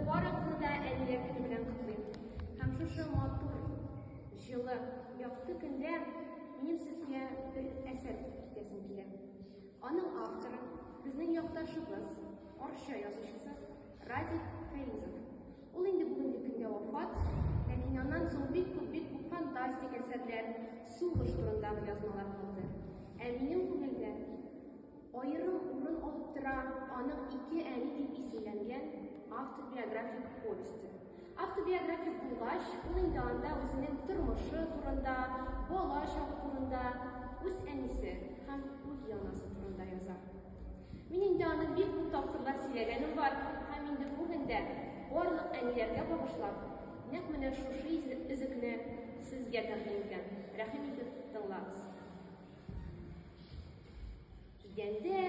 Барыгызны да әниләр көне белән котлыйм. Һәм шушы матур, җылы, якты көндә минем сезгә бер әсәр китәсем килә. Аның авторы безнең якташыбыз, Арча язучысы Радик Фәизов. Ул инде бүгенге көндә вафат, ләкин аннан соң бик күп бик күп фантастик әсәрләр, сугыш турындагы язмалар калды. Ә минем күңелдә Аерым урын алып тора аның ике әни дип исемләнгән автобиографик повесте. Автобиографик булгач, ул инде анда үзенең тормышы турында, бала чагы турында, үз әнисе һәм үз янасы турында яза. Мин инде аны бик күп тапкырлар сөйләгәнем бар, һәм инде бүген дә барлык әниләргә багышлап, нәкъ менә шушы өзекне сезгә тәкъдим итәм. Рәхим итеп тыңлагыз. Идәндә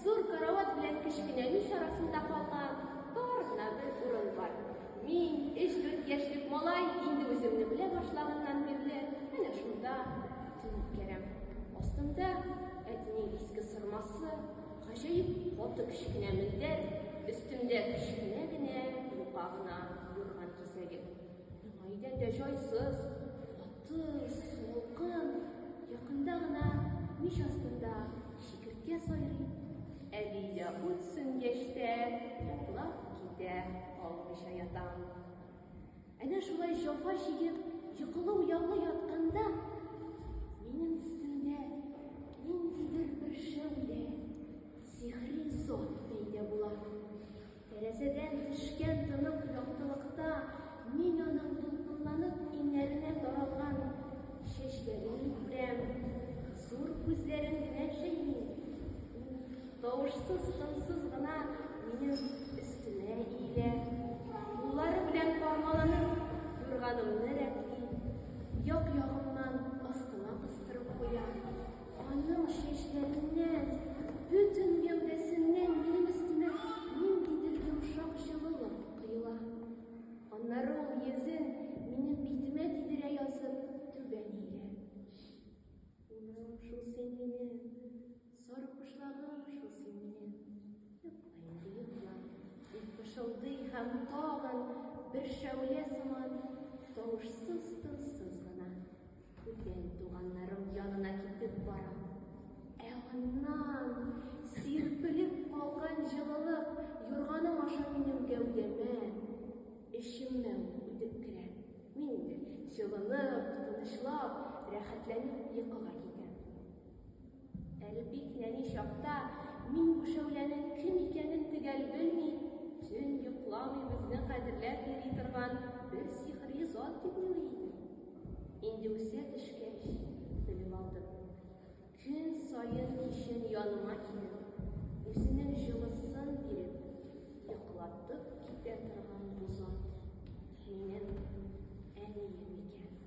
зур карават белән кечкенә мич арасында калган тар гына бер урын бар. Мин, өч дүрт яшьлек малай, инде үземне белә башлаганнан бирле, әнә шунда төнәп керәм. Астында әтинең иске сырмасы, гаҗәеп каты кечкенә мендәр, өстемдә кечкенә генә юка гына юрган кисәге. Миңа идәндә җайсыз, Кыз, солкын, якында гына мич астында шикерткә сайрый. Әби дә ут сүнгәч тә йоклап китә, калмыйча ята. Әнә шулай җафа чигеп, йокылы уяулы ятканда, минем өстемдә ниндидер бер шәүлә, сихри зат пәйда була. Тәрәзәдән төшкән тонык яктылыкта мин аның дулкынланып иңнәренә таралган чәчләрен күрәм. Зур күзләрен генә җәйми. Тавышсыз, тынсыз гына минем өстемә иелә. Куллары белән кармаланып, юрганымны рәтли, як-ягымнан астыма кыстырып куя. Аның чәчләреннән, бөтен гәүдәсеннән минем өстемә ниндидер йомшак җылылык коела. Аннары ул йөзен минем битемә тидерә язып түбән иелә. Уным шул син минем, сарык кошлагым шул син минем. Йокла инде йокла, дип пышылдый һәм тагын бер шәүлә сыман тавышсыз-тынсыз гына Бүтән туганнарым янына китеп барам. Ә аннан сирпелеп калган җылылык юрганым аша минем гәүдәмә, эчемә үтеп керә. Мин инде җылынып, тынычлап, рәхәтләнеп йокыга китәм. Әле бик нәни чакта мин бу шәүләнең кем икәнен төгәл белми, төн йокламый безне кадерләп йөри торган бер сихри зат дип уйлый идем. Инде үсә төшкәч, белеп алдым. Көн саен кичен яныма килеп, үзенең җылысын биреп, йоклатып китә торган бу зат минем әнием икән.